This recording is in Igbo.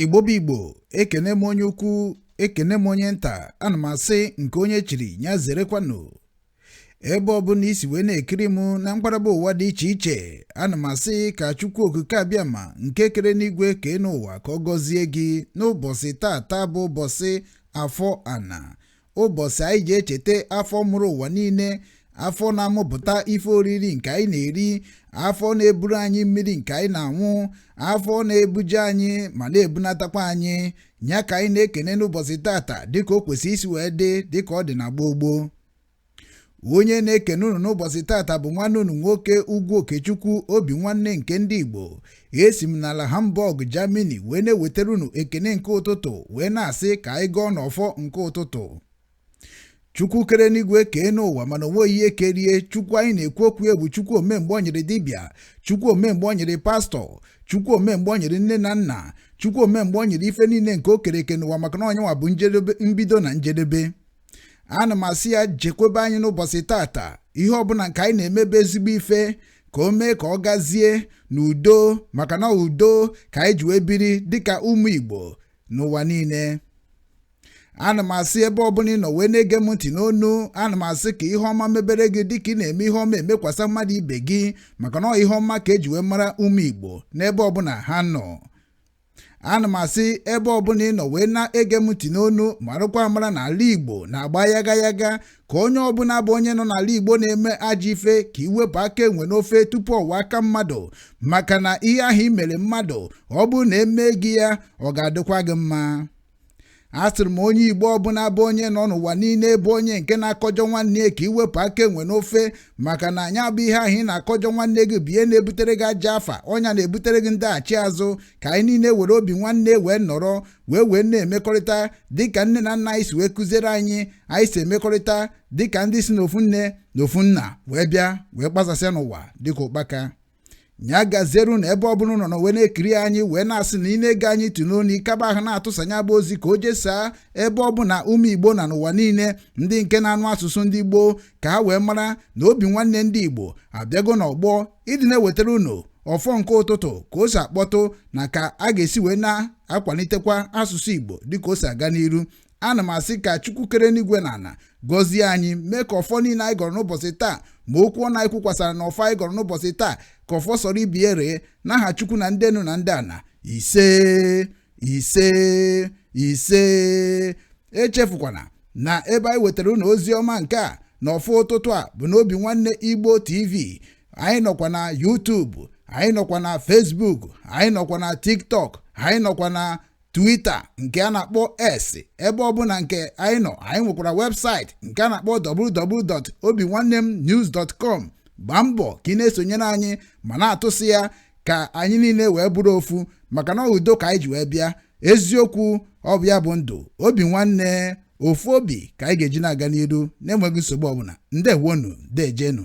igbo bụ igbo ekene m onye ukwu ekene m onye nta ana m asị nke onye chiri ya zerekwanụ ebe ọbụla isi wee na-ekiri m na mgbaraba ụwa dị iche iche ana m asị ka chukwu okike abịama nke kere n'igwe kee n'ụwa ka ọ gọzie gị n'ụbọchị tata bụ ụbọchị afọ ana ụbọchị anyị ji echeta afọ mụrụ ụwa niile afọ na-amụpụta ife oriri nke anyị na-eri afọ na-eburu anyị mmiri nke anyị na-aṅụ afọ na-ebuje anyị ma na-ebunatakwa anyị ya ka anyị na-ekene n'ụbọchị tata dịka o kwesịrị isi wee dị dịka ọ dị na gboo gboo onye na-ekene unu n'ụbọchị tata bụ nwanne unu nwoke ugwu okechukwu obi nwanne nke ndị igbo esi m n'ala hamburg germany wee na-ewetara unu ekene nke ụtụtụ wee na-asị ka anyị gọọnụ ọfọ nke ụtụtụ chukwu kere n'igwe kee n'ụwa mana o nweghị ihe kere ya chukwu anyị na-ekwu okwu ya bụ chukwu omemgbe ọ nyịrị dibịa chukwu omemgbe ọ nyịrị pastọ chukwu omemgbe ọ nyịrị nne na nna chukwu omemgbe ọ nyịrị ife niile nke o kere eke n'ụwa maka na ọ nya nwa bụ njedebe mbido na njedebe ana m asị ya chekwebe anyị n'ụbọchị tata ihe ọbụla nke anyị na-emebe ezigbo ife ka o mee ka ọ gazie n'udo maka na ọ udo ka anyị ji wee biri dịka ụmụ Igbo n'ụwa niile ana m asị ebe ọbụla ị nọ wee na-ege m ntị n'onu ana m asị ka ihe ọma mebere gị dịka ị na-eme ihe ọma emekwasa mmadụ ibe gị maka na ọ ihe ọma ka eji wee mara ụmụ Igbo n'ebe ọbụla ha nọ ana m asị ebe ọbụla ị nọ wee na-ege m ntị n'onu marakwa amara na ala igbo na-agba yaga yaga ka onye ọbụla bụ onye nọ n'ala igbo na-eme ajọ ife ka i wepụ aka enwe n'ofe tupu ọ wọọ aka mmadụ maka na ihe ahụ i mere mmadụ ọ bụrụ na emee gị ya ọ ga-adịkwa gị mma asịrị m onye igbo ọbụla bụ onye nọ n'ụwa niile bụ onye nke na-akọjọ nwanne ya ka i wepụ aka enwe n'ofe maka na nya bụ ihe ahụ ị na-akọjọ nwanne gị bụ ihe na-ebutere gị ajọ afa ọ nya na-ebutere gị ndaghachi azụ ka anyị niile were obi nwanne wee nọrọ wee wee na-emekọrịta dịka nne na nna anyị si wee kụziere anyị anyị si emekọrịta dịka ndị si n'ofu nne na ofu nna wee bịa wee gbasasịa n'ụwa dịka ụkpaka ya gaziere unu ebe ọbụla unu nọ wee na-ekiri anyị wee na-asị na ị na-ege anyị ntị n'onu ịkaba ahụ na-atụsa nya bụ ozi ka o jesaa ebe ọbụla ụmụ igbo nọ n'ụwa niile ndị nke na-anụ asụsụ ndị igbo ka ha wee mara na obi nwanne ndị igbo abịago n'ọgbọ ịdị na-ewetara unu ọfọ nke ụtụtụ ka o si akpọtụ na ka a ga-esi wee na-akwalitekwa asụsụ igbo dịka o si aga n'iru ana m asị ka chukwu kere enigwe na ana gọzie anyị mee ka ọfọ niile anyị gọrọ n'ụbọchị taa ma okwu ọnụ anyị kwukwasara na ọfọ anyị gọrọ n'ụbọchị taa ka ọfọ soro ibie ree n'aha chukwu na ndị enu na ndị ana ise ise ise echefukwana na ebe anyị wetara ụnụ ozi ọma nke a na ọfọ ụtụtụ a bụ n'obinwanne igbo tv anyị nọkwa na youtube anyị nọkwa na facebook anyị nọkwa na tiktok anyị nọkwa na Twitter nke a na-akpọ X ebe ọbụna nke anyị nọ anyị nwekwara website nke a na-akpọ www.obinwannemnews.com gbaa mbọ ka ị na-esonyere anyị ma na-atụsị ya ka anyị niile wee bụrụ ofu maka na udo ka anyị ji wee bịa eziokwu ọ bụ ya bụ ndụ Obinwanne ofu obi ka anyị ga-eji na-aga n'iru na-enweghị nsogbu ọbụna ndewonu dejenu